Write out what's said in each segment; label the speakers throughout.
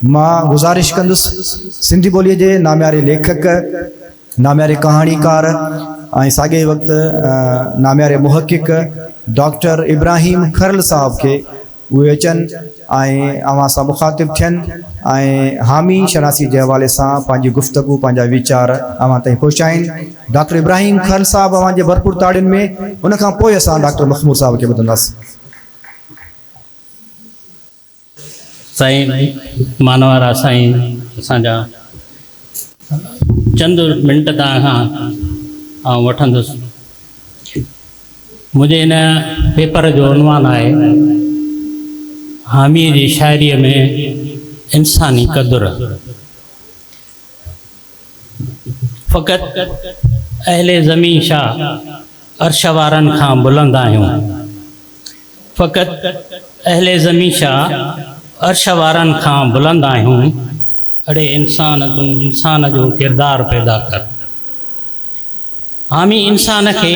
Speaker 1: مان گذارش ڪندس سنڌي ٻوليء جي نامياري ليکڪ، نامياري ڪهاڻيڪار ۽ ساڳئي ئي وقت نامياري محقق ڊاڪٽر ابراهيم کرل صاحب کي اهي اچن ۽ اوهان سان مخاطب ٿين ۽ حامي شناسيء جي حوالي سان پنهنجي گفتگو، پنهنجا ويچار اوهان تائين پهچائين. ڊاڪٽر ابراهيم کرل صاحب اوهان جي ڀرپور تاڙين ۾، ان کان پوء اسان ڊاڪٽر مخمور صاحب کي ٻڌنداسين.
Speaker 2: سائين مانوارا سائين اسان جا چند منٽ توهان کان آئون وٺندس منهنجي هن پيپر جو عنوان آهي حامي جي شاعري ۾ انساني قدر فقط اهل زمين شاه عرش وارن کان بلند آهيون فقط اهل زمين شاه عرش وارن کان بلند آهيون اڙي انسان تون انسان جو ڪردار پيدا ڪر. حامي انسان کي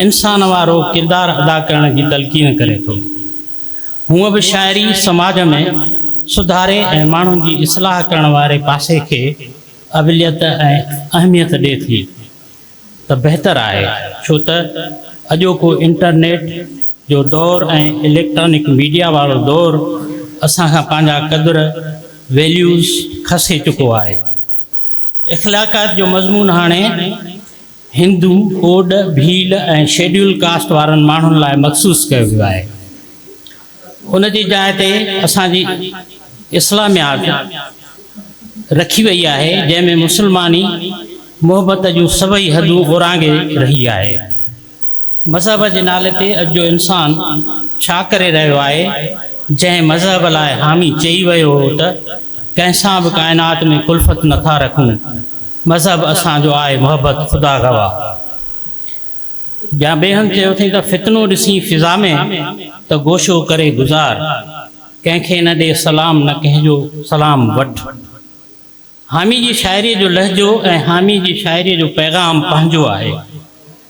Speaker 2: انسان وارو ڪردار ادا ڪرڻ جي تلقين ڪري ٿو. هونء به شاعري سماج ۾ سڌاري ۽ ماڻهن جي اصلاح ڪرڻ واري پاسي کي اوليت ۽ اهميت ڏي ٿي ته بهتر آهي ڇو ته اڄوڪو انٽرنيٽ جو دور ۽ اليڪٽرانڪ ميڊيا وارو دور اسان کان پنهنجا قدر، Values، کسي چڪو آهي. اخلاقيات جو مضمون هاڻي هندو، ڪوڏ، ڀيل ۽ شيڊيول ڪاسٽ وارن ماڻهن لاء مخصوص ڪيو ويو آهي. ان جي جاء تي اسان جي اسلاميات رکي وئي آهي، جنهن ۾ مسلماني محبت جون سڀئي حدون اورانگهي رهي آهي. مذهب جي نالي تي اڄ جو انسان ڇا ڪري رهيو آهي؟ جنهن مذهب لاء حامي چئي ويو هو ته، ڪنهن سان به ڪائنات ۾ ڪلفت نه ٿا رکون، مذهب اسان جو آهي محبت خدا گواهه. جا ٻئي هنڌ چيو اٿئين ته، فتنو ڏسين فضا ۾، ته گوشو ڪري گذار، ڪنهن کي نه ڏي سلام نه ڪنهن جو سلام وٺ. حامي جي شاعريء جو لهجو ۽ حامي جي شاعريء جو پيغام پنهنجو آهي.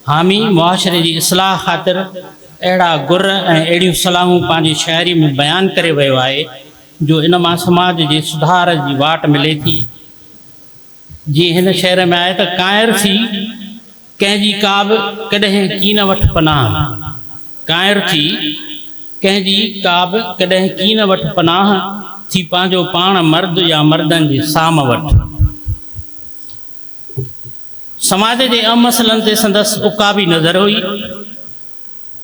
Speaker 2: حامي معاشري جي اصلاح خاطر اهڙا گر ۽ اهڙيون صلاحون پنهنجي شاعريء ۾ بيان ڪري ويو آهي، جو ان مان سماج جي سڌار جي واٽ ملي ٿي. جيئن هن شعر ۾ آهي ته ڪانئر ٿي. ڪنهن جي ڪا به ڪڏهن ڪين وٺ پناهه، ڪائر ٿي، ڪنهن جي ڪا به ڪڏهن ڪين وٺ پناهه، ٿي پنهنجو پاڻ مرد يا مردن جي سام وٺ. سماج جي اهم مسئلن تي سندس عقابي نظر هئي.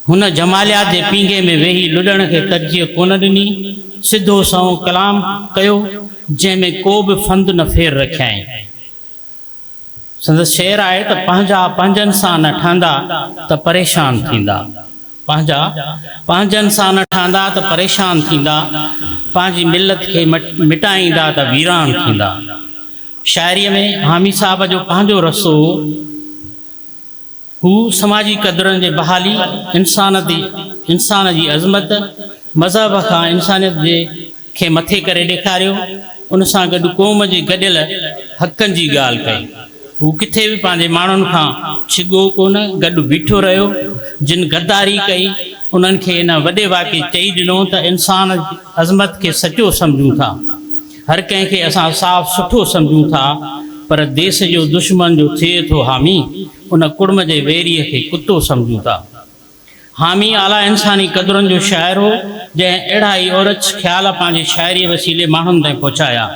Speaker 2: هن جماليات جي پينگهي ۾ ويهي لڏڻ کي ترجيح ڪونه ڏني، سڌو سنئون ڪلام ڪيو، جنهن ۾ ڪو به ڦند نه ڦير رکيائين. سندس شعر آهي ته پنهنجا پنهنجن سان نه ٺهندا ته پريشان ٿيندا، پنهنجا پنهنجن سان نه ٺهندا ته پريشان ٿيندا، پنهنجي ملت کي مٽائيندا ته ويران ٿيندا. شاعريء ۾ حامي صاحب جو پنهنجو رسو هو. هو سماجي قدرن جي بحالي، انسانتي، انسان جي عظمت، مذهب کان انسانيت جي کي مٿي ڪري ڏيکاريو، ان سان گڏ قوم جي گڏيل حقن جي ڳالهه ڪئي. هو ڪٿي به پنهنجي ماڻهن کان ڇڳو ڪونه، گڏ بيٺو رهيو، جن غداري ڪئي، انهن کي ان وڏي واقعي چئي ڏنو ته انسان جي عظمت کي سچو سمجهون ٿا، هر ڪنهن کي اسان صاف سٺو سمجهون ٿا پر ديس جو دشمن جو ٿئي ٿو حامي ان ڪڙم جي ويريء کي ڪتو سمجهون ٿا. حامي اعليٰ انساني قدرن جو شاعر هو جنهن اهڙا ئي اورچ خيال پنهنجي شاعريء وسيلي ماڻهن تائين پهچايا.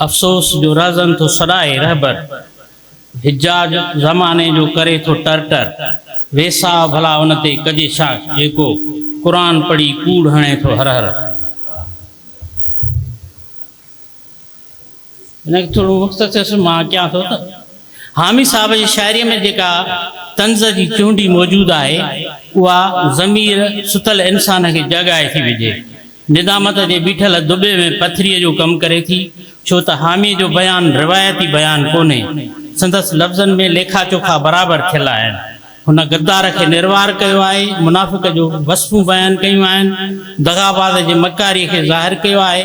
Speaker 2: افسوس جو رهزن ٿو سڏائي رهبر حجاج زماني جو ڪري ٿو ٽر ٽر ويساهه ڀلا ان تي ڪجي ڇا جيڪو قرآن پڙهي ڪوڙ هڻي ٿو هرهر. هن کي ٿورو وقت ٿيس مان اچان ٿو ته حامي صاحب جي شاعري ۾ جيڪا طنز جي چونڊي موجود آهي اها ضمير ستل انسان کي جاڳائي ٿي وجهي ندامت جي بيٺل دٻي ۾ پٿريء جو ڪم ڪري ٿي ڇو ته حامي جو بيان روايتي بيان ڪونهي سندس لفظن ۾ ليکا چوکا برابر ٿيل آهن. هن غدار کي نروار ڪيو آهي، منافق جو وصفون بيان ڪيون آهن، دغاباز جي مڪاري کي ظاهر ڪيو آهي.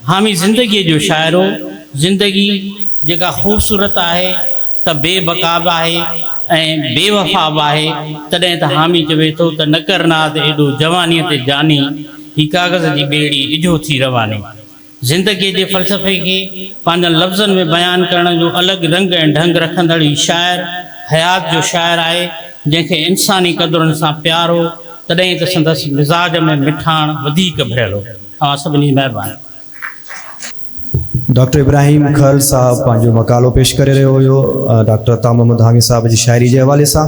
Speaker 2: حامي زندگيء جو شاعر هو، زندگي، جيڪا خوبصورت آهي ته بي بقا به آهي ۽ بي وفا به آهي، تڏهن ته حامي چوي ٿو ته نڪر ناز ايڏو جوانيء تي جاني، هي ڪاغذ جي ٻيڙي ڊجهو ٿي رواني. زندگيء جي فلسفي کي پنهنجن لفظن ۾ بيان ڪرڻ جو الڳ رنگ ۽ ڍنگ رکندڙ هي شاعر، حيات جو شاعر آهي، جنهن کي انساني قدرن سان پيار هو، تڏهن ته سندس مزاج ۾ مٺاڻ وڌيڪ ڀريل هو. اوهان سڀني جي مهرباني.
Speaker 1: ڊاڪٽر ابراهيم کهل صاحب پنهنجو مقالو پيش ڪري رهيو هيو، ڊاڪٽر عطا محمد حامي صاحب جي شاعري جي حوالي سان.